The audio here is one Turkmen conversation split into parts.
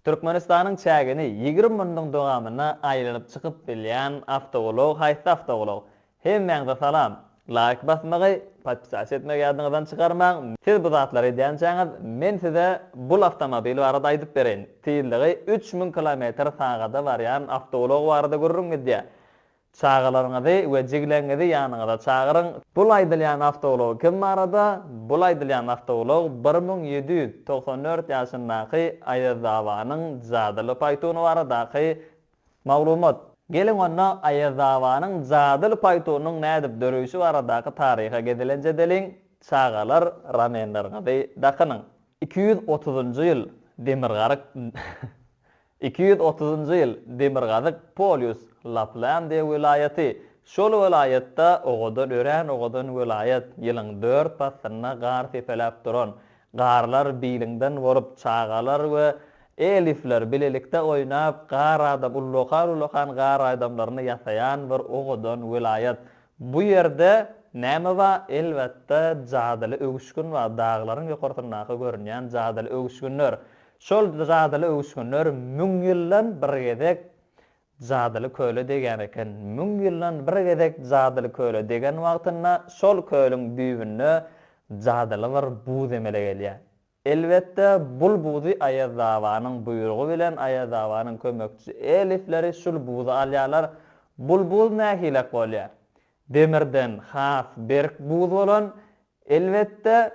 Türkmenistanyň çägini ýigrimi munnuň dowamyna aýlanyp çykyp bilýän awtoulag haýsy awtoulag? Hemmäňze salam! Laýk basmagy, podpisasiýa etmegi ýadyňyzdan çykarmaň, siz bu zatlary edýänçäňiz men size bul awtomobil barada aýdyp bereýin, tizligi üç müň kilometr sagada barýan awtoulag barada gürrüň gidýär. Çagalaryňyzy we jigleňňizi ýanyňyza çagyryň. Bul aýdylýan awtoulag kim barada? Bul aýdylýan awtoulag bir müň ýedi ýüz togsan dört ýaşyndaky Aýazabanyň jadyly paýtuny baradaky maglumat. Geliň onda Aýazabanyň jadyly paýtunyň nädip döreýşi baradaky taryha gezelenç edeliň, çagalar ramenleriňizi dakynyň. Iki ýüz otuzynjy ýyl demirgaryk Iki ýüz otuzynjy ýyl Demirgazyk polýus Laplandiýa welaýaty Şol welaýatda owadan örän owadan welaýat Ýylyň dört paslynda gar sepeläp duran Garlar biliňden bolup çagalar we elifler bilelikde oýnap gar adam ullakan ullakan gar aýdamlaryny ýasaýan bir owadan welaýat Bu ýerde näme ba elbetde jadyly öwüşgin ba daglaryň ýokarsyndaky görünýän jadyly öwüşginler Şol jadyly öwüşginler müň ýyldan bir gezek jadyly köle degýän eken. Müň ýyldan bir gezek jadyly köle degen wagtynda şol kölüň düýbünde jadyly bir buz emele gelýär. Elbetde, bul buzy Aýaz babanyň buýrugy bilen Aýaz babanyň kömekçi elifleri şul buzy alýarlar. Bul buz nähilek bolýar? Demirden has berk buz bolan, elbetde,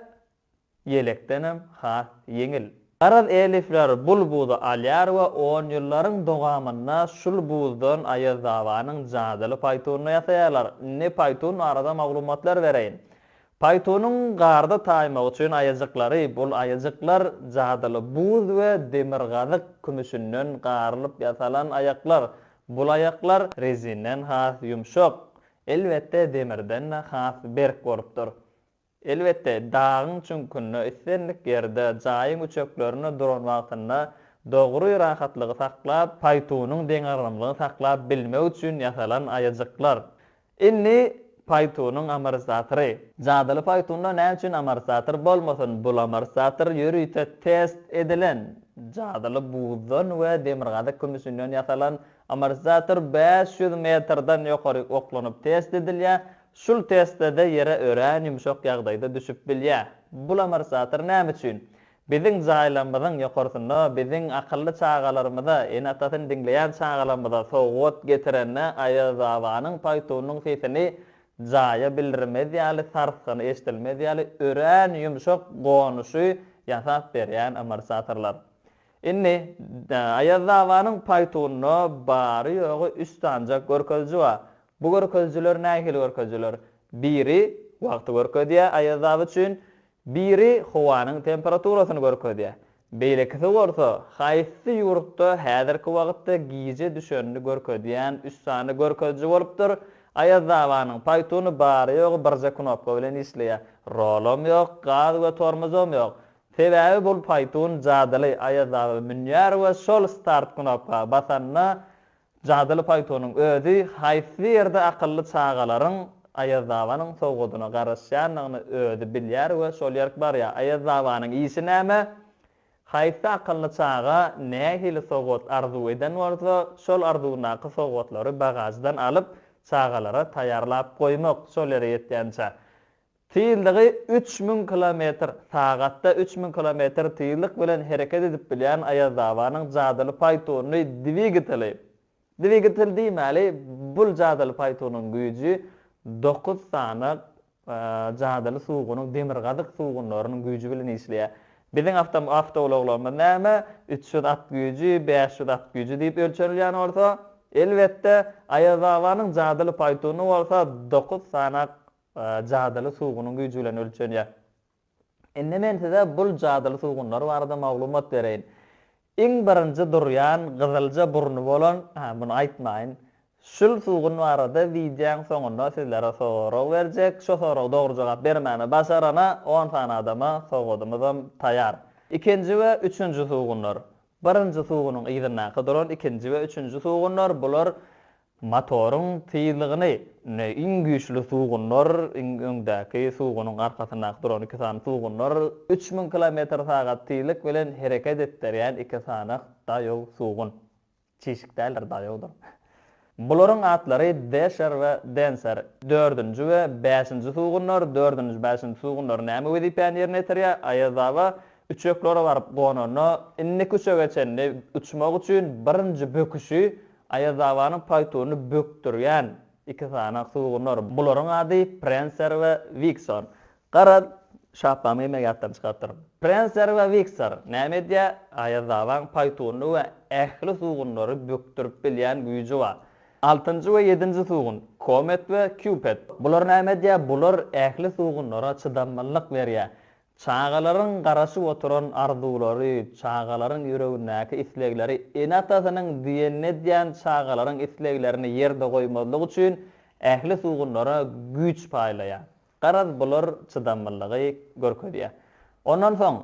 ýelekdenem has ýeňil. Garaz elifler bul buzy alýar we on ýyllaryň dogamynda şul buzdan Aýazabanyň jadyly paýtunyny ýasaýarlar. Indi paýtun barada maglumatlar bereýin. Paýtunyň garda taýmagy üçin aýajyklary, bul aýajyklar jadyly buz we demirgazyk kümüşinden garylyp ýasalan aýaklar. Bul aýaklar rezinden has ýumşak, elbetde demirden-de has berk bolupdyr. Elbetde, dagyň çüňkünde, islendik ýerde, jaýyň üçeklerinde duran wagtynda dogry rahatlygy saklap, paýtunyň deňagramlygyny saklap bilmegi üçin ýasalan aýajyklar. Indi paýtunyň amortisatory. Jadyly paýtunda näme üçin amortisator bolmasyn? Bul amortisator ýörite test edilen, jadyly buzdan we demirgazyk kümüşinden ýasalan amortisator bäş ýüz metrden ýokary oklanyp test edilýär, Şul testlede ýere örän ýumşak ýagdaýda düşüp bilýä. Bul amorsator näme üçin? Biziň jaýlarymyzyň ýokarsynda biziň akylly çagalarymyza, ene-atasyny diňleýän çagalarymyza sowgat getirende Aýazbabanyň paýtunyň sesini jaýa bildirmez ýaly, sarsgyny eşidilmez ýaly örän ýumşak gonuşy ýasap berýän amorsatorlar. Indi, Aýaz dabanyň paýtunda bary-ýogy üç sanjak görkeziji bar. Bu görkezijiler nähili görkezijiler? Biri wagty görkezýär Aýaz daba üçin, biri howanyň temperaturasyny görkezýär. Beýlekisi bolsa, haýsy ýurtda häzirki wagtda gije düşenini görkezýän üç sany görkeziji bolupdyr. Aýaz dabanyň paýtuny bary-ýogy birje knopka bilen işleýär. Rolam ýok, gaz we tormozam ýok. Sebäbi bul paýtun jadyly aýazdagy münýär we şol start knopka basanda jadyly paýtunyň özi haýsy ýerde akylly çagalaryň aýazdabanyň sowgadyna garaşýanyny özi bilýär we şol ýerk barýar. Aýazdabanyň işi näme? Haýsy akylly çaga nähili sowgat arzuw eden bolsa, şol arzuwyndaky sowgatlary bagaždan alyp, çagalara taýýarlap goýmak, şol ýere ýetýänçä. Tizligi üç müň kilometr, Sagatda üç müň kilometr tizlik bilen hereket edip bilýän Aýazdabanyň jadyly paýtuny dwigateli, Dwigatel diýmäli, bul jadyly paýtunyň güýji dokuz sany jadyly suwgunyň demirgazyk suwgunlarynyň güýji bilen işleýär. Biziň awtoulaglarymyz näme, üç ýüz at güýji, bäş ýüz at güýji diýip ölçenilýän bolsa, elbetde, Aýazdabanyň jadyly paýtuny bolsa dokuz sany jadyly sugunyň güýji bilen ölçenýär. Indi men size bul jadyly sugunlar barada maglumat bereýin. Iň birinji durýan gyzylja burny bolan, hä muny aýtmaýyn. Şul sugun barada wideoň soňunda sizlere sorag berjek. Şo soraga dogry jogap bermäni başarana on sany adama sowgadymyzam taýar. Ikinji we üçünji sugunlar. Birinji sugunyň yzyndaky duran ikinji we üçünji sugunlar bular Motoryň tyzlygyny iň güýçli sugunlar, iň öňdäki sugunyň arkasyndaky duran iki sany sugunlar, üç müň kilometr sagat tyzlyk bilen hereket etdirýän iki sany daýow sugun. Çişik däldir, daýowdyr. Bularyň atlary Desher we Denser. Dördünji we bäşinji sugunlar, dördünji, bäşinji sugunlar näme wezipäni ýerine ýetirýär? Aýazaba üçeklere baryp gonanda, indiki üçege çenli uçmak üçin birinji böküşi Aýazabanyň paýtunyny bökdürýän iki sany sugunlar. Bularyň ady Prenser we Wiksor. Gara, şaplamy geýmegi ýatdan çykarypdyr. Prenser we Wiksor näme edýär? Aýazabaň paýtunyny we ähli sugunlary bökdürip bilýän güýji bar. Altynjy we ýedinji sugun, Komet we Kýupet. Bular näme edýär? Bular ähli sugunlara çydamlylyk berýär. Çagalaryň garaşyp oturan arzuwlary, çagalaryň ýüregindäki islegleri ene-atasynyň diýenini edýän çagalaryň isleglerini ýerde goýmazlyk üçin ähli sugunlara güýç paýlaýar. Garaz, bular çydamlylygy görkezýär. Ondan soň,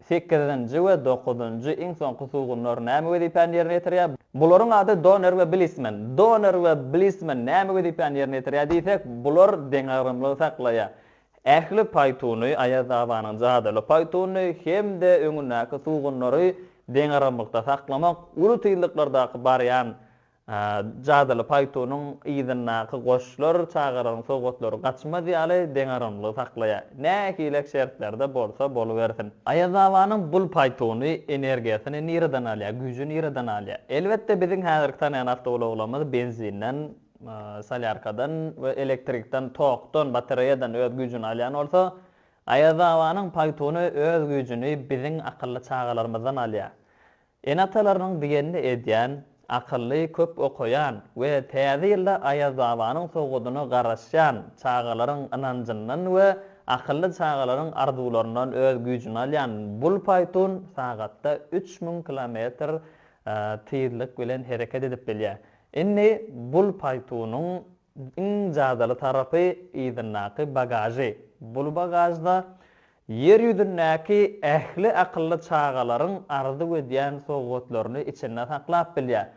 sekizinji we dokuzynjy, iň soňky sugunlar näme wezipäni ýerine ýetirýär? Bularyň ady Doner we Blisman. Doner we Blisman näme wezipäni ýerine ýetirýär diýsek, bular deňagramlygy saklaýar. Ähli paýtuny, Aýaz Abanyň jadyly paýtunyny hem-de öňündäki sugunlary deňaramlykda saklamak, uly tizliklerdaky barýan jadyly paýtunyň yzyndaky goşlar, çagalaryň sowgatlary gaçmaz ýaly deňaramlygy saklaýar. Nähilek şertlerde bolsa bolubersin. Aýaz Abanyň bul paýtuny energiýasyny nireden alýar, güýji nireden alýar? Elbetde, biziň häzirki tanaýan awtoulaglarymyz benzinden solýarkadan we elektrikden tokdan, batareýadan öz güýjüni alýan bolsa, Aýazabanyň paýtuny öz güýjüni biziň akylly çagalarymyzdan alýar. Ene-atalarynyň diýenini edýän, akylly, köp okaýan we täze ýylda Aýazabanyň sowgadyna garaşýan çagalaryň ynanjyndan we akylly çagalaryň arzuwlaryndan öz güýjüni alýan bul paýtun sagatda üç müň kilometr tyzlyk bilen hereket edip bilýär. Indi bul paýtunyň iň jadyly tarapy yzyndaky bagažy. Bul bagažda Ýer ýüzündäki ähli akylly çagalaryň arzuw edýän sowgatlaryny içinde saklap bilýär.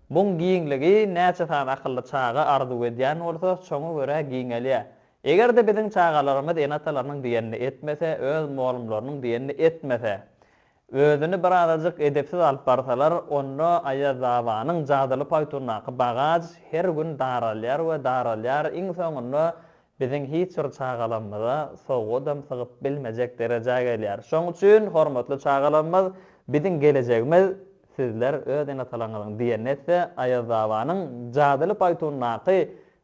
Buň giňligi näçe sany akylly çaga arzuw edýän bolsa, şoňa görä giňelýär. Eger-de biziň çagalarymyz ene-atalarynyň diýenini etmese, öz molumlarynyň diýenini etmese, Özüni bir azajyk edepsiz alyp barsalar, onda Aýazabanyň jadyly paýtundaky bagaž her gün daralýar we daralýar, iň soňunda biziň hiç bir çagalamyza sowgadam sygyp bilmejek derejä gelýär. Şoň üçin, hormatly çagalarymyz, biziň gelejegimiz sizler öz ene-atalaryňyzyň diýenini etse, Aýazabanyň jadyly paýtundaky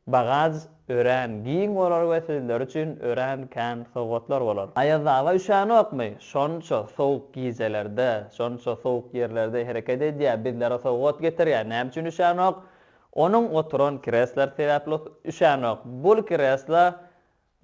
Bagaž örän giň bolar we sizler üçin örän kän sowgatlar bolar. Aýazdaga üşänokmy? Şonça sowuk gijelerde, şonça sowuk ýerlerde hereket edýär, bizlere sowgat getirýär. Näme üçin üşänok? Onuň oturan kreslary sebäpli üşänok. Bul kresla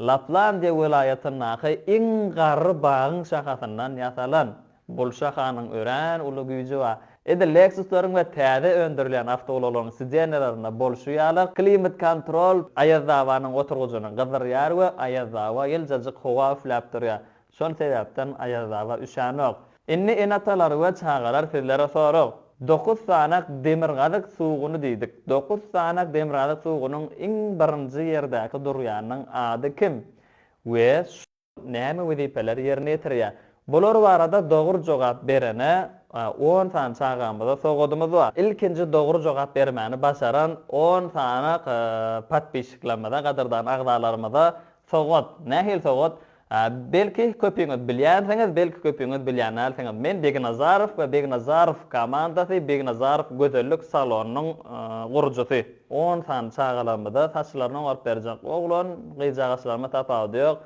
Laplandiýa welaýatyndaky iň garry bagyň şahasyndan ýasalan bul şahanyň örän uly güýji bar. Edil Lexus-laryň we täze öndürilýän awtoulaglaryň sidenýalarynda bolşy ýaly, klimat-kontrol Aýazdabanyň oturgyjyny gyzdyrýar we Aýazdaba ýyljajyk howa üfläp durýar. Şol sebäpden Aýazdaba üşänok. Indi ene-atalar we çagalar sizlere sorag. Dokuz sanak demirgazyk suguny diýdik. Dokuz sanak demirgazyk sugunyň iň birinji ýerdäki durýanynyň ady kim we şol näme wezipeleri ýerine ýetirýär? Bular barada dogry jogap berene on sany çagamyza sogadymyz bar. Ilkinji dogry jogap bermäni başaran on sanak podpişiklerimize, gadyrdan agzalarymyza sogad. Nähili sogad? Belki, köpüňiz bilýänsiňiz, belki, köpüňiz bilýänälsiňiz. Men Beginazarow we Beginazarow komandasy Beginazarow gözellik salonynyň gurujysy. On sany çagalarymyza saçlaryny oňaryp berjek oglan gyzjagaçlaryma tapawudy ýok.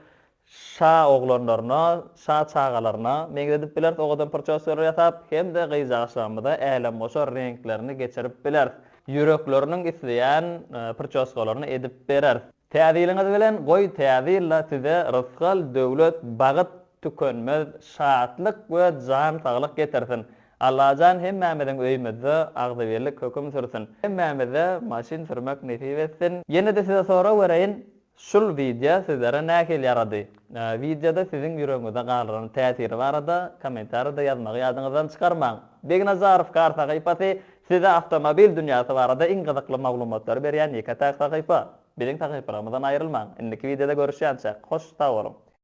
Şa oglanlaryna, şa çagalaryna meňzedip bileris owadan prçoskalar ýasap hem-de gyzjagaçlarymyza älemgoşar reňklerini geçirip bileris. Ýürekleriniň isleýän prçoskalaryny edip bereris. Täze ýylyňyz bilen goý täze ýylda size rysgal, döwlet, bagyt, tükenmez şatlyk we jan saglyk getirsin. Allajan hemmämiziň öýümizde agzybirlik höküm sürsün. Hemmämize maşyn sürmek nesip etsin. Ýenede size sorag bereýin şul wideo sizlere nähili ýarady? Wideoda siziň ýüregiňizde galran täsiri barada kommentariýada ýazmagy ýadyňyzdan çykarmaň. Begnazarow kar sahypasy Size awtomobil dünýäsi barada iň gyzykly maglumatlary berýän ýeke-täk sahypa. Biziň sahypalarymyzdan aýrylmaň. Indiki wideoda görüşýänçäk, hoş sag boluň!